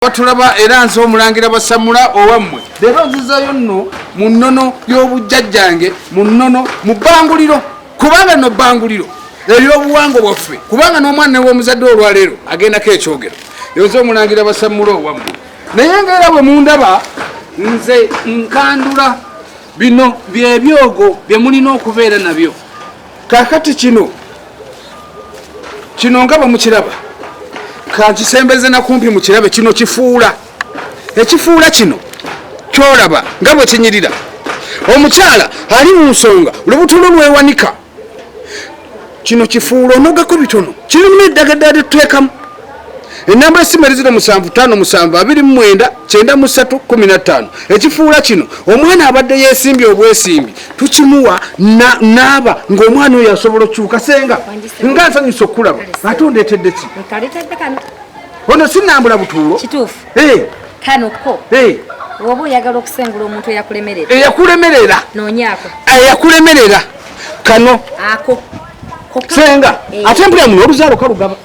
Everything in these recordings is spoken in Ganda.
batulaba era nze omulangira basamula owammwe leero nzizayo nno mu nnono y'obujjajjange mu nnono mu bbanguliro kubanga no bbanguliro ery'obuwanga bwaffe kubanga n'omwana new'omuzadde olwaleero agendako ekyogero yonze omulangira basamula owammwe naye nga era bwe mundaba nze nkandula bino byebyogo bye mulina okubeera nabyo kakati kino kino nga bamukiraba kankisembeze nakumpi mukirabe kino kifuula ekifuula kino kyolaba nga bwekinyirira omukyala ali mu nsonga lubuto lwo lwewanika kino kifuula onogako bitono kirimu eddaga ddala tetuteekamu enamba esimu eri zino musanvu tano musanvu abiri mu mwenda kyenda mu ssatu kumi na ttaano ekifuula kino omwana abadde yeesimbye obwesimbi tukimuwa naaba ng'omwana oyo asobola okukyuka senga nga nsanyusa okukulaba ate ondeetedde ki ono sinambula butuulo kituufu eh. kano ko eh. oba oyagala okusengula omuntu eyakulemerera eyakulemerera nonyako eyakulemerera kano ako senga eh. ate mpulira muno oluzaalo kalugaba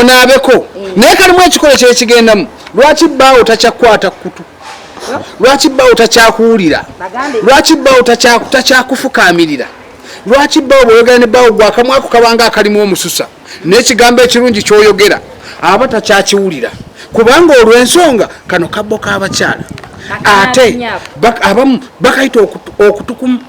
onaabeko mm. naye kalimu ekikolo kyekigendamu lwaki bbaawo takyakwata kukutu lwaki bbaawo takyakuwulira lwaki bbaawo takyakufukaamirira lwaki bbaawo bwoyogera ne bbaawo gwakamwako kabanga akalimu omususa n'ekigambo ekirungi kyoyogera aba takyakiwulira kubanga olw'ensonga kano kabbo k'abakyala ate abamu bakayita okutukumu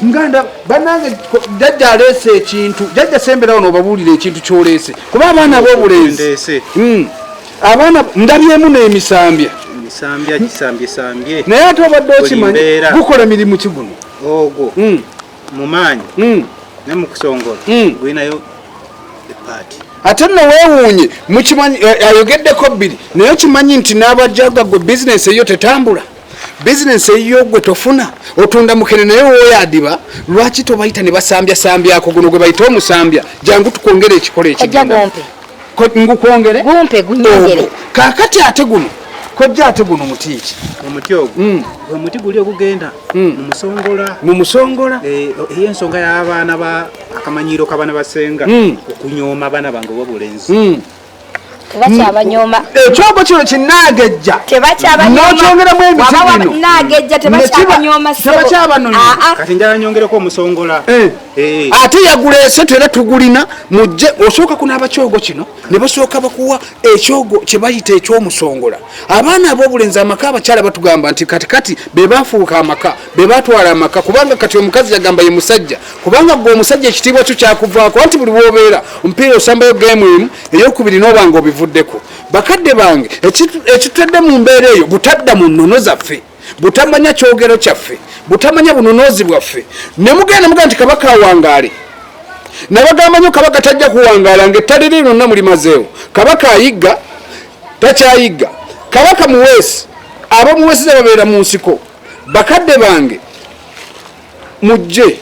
muganda banange jajja aleese ekintu jajja semberawo nobabuulira ekintu kyoleese kuba abaana bobulenzi hmm. abaana ndabyemu nemisambya naye ate obadde okimanyi gukola mirimu kiguno ogwo hmm. mumaanyi hmm. nemukusongola gulinayo epaati ate no wewuunye mukimanyi eh, ayogeddeko bbiri naye okimanyi nti n'abajaga gwe bizinesi eyo tetambula bizinensi eyiyo gwe tofuna otunda mukene naye woyadiba lwaki tobayita ne basambya sambyako guno gwe bayita omusambya jangu tukwongere ekikola ekingukwongere kakati ate guno kojja ate guno muti ki omuti ogwo hmm. omuti guli ogugenda hmm. mumusongola mumusongola eh, eyensonga y'abaana ba akamanyiiro kabana basenga hmm. okunyooma abaana bange obobulenzi tebakyabanyoma ekyogo kino kinagejja nokyongeramu emizimunotebakyabanyoomakati njala nyongereko omusongola eh. Eh. ate yagulese tera tugulina mujje osooka kunaaba kyogo kino ne basooka bakuwa ekyogo kyebayita ekyomusongola abaana ab'obulenzi amaka abakyala batugamba nti katikati bebafuuka amaka bebatwala amaka kubanga kati omukazi yagamba ye musajja kubanga gwe omusajja ekitiibwa kyo kyakuvaako anti buli wobeera omupiira osambayo gemu emu eyokubiri nobanga obivuddeko bakadde bange ekitudde mu mbeera eyo butadda mu nnono zaffe butamanya kyogero kyaffe butamanya bunonoozi bwaffe ne mugenda muga nti kabaka awangaale nabagamba nyo kabaka tajja kuwangaala nga ettale lye lyonna mulimazeewo kabaka ayigga takyayigga kabaka muweesi abamuweesiza babeera mu nsiko bakadde bange mujje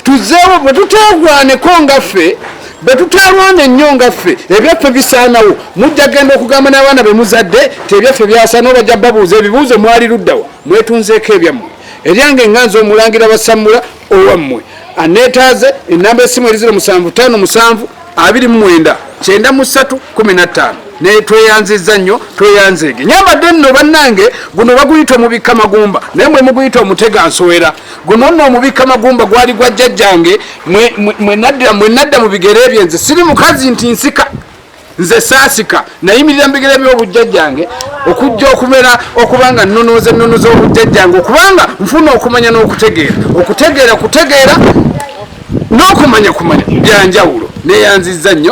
tuzeewo bwe tuteegwaneko nga ffe bwe tuteerwana ennyo nga ffe ebyaffe bisaanawo mujja genda okugamba n'abaana be muzadde ti ebyaffe byasaanawo bajja babuuza ebibuuzo mwali luddawa mwetunzeeko ebyammwe eryange nga nze omulangira basammula owammwe anneetaaze ennamba essimu eri ziro musanvu ttaano musanvu abiri mu mwenda kyenda mu ssatu kumi na ttaano naye tweyanzizza nnyo tweyanzeege nyambadde nno bannange guno baguyita omubikka magumba naye mwe muguyita omutega nsowera guno nno omubikka magumba gwali gwa jjajjange mwe nadda mu bigere byenze siri mukazi nti nsika nze saasika nayimirira mu bigere by'obujjajjange okujja okubeera okubanga nnonooza ennono z'obujjajjange okubanga nfuna okumanya n'okutegeera okutegeera kutegeera n'okumanya kumanya byanjawulo neyanzizza nnyo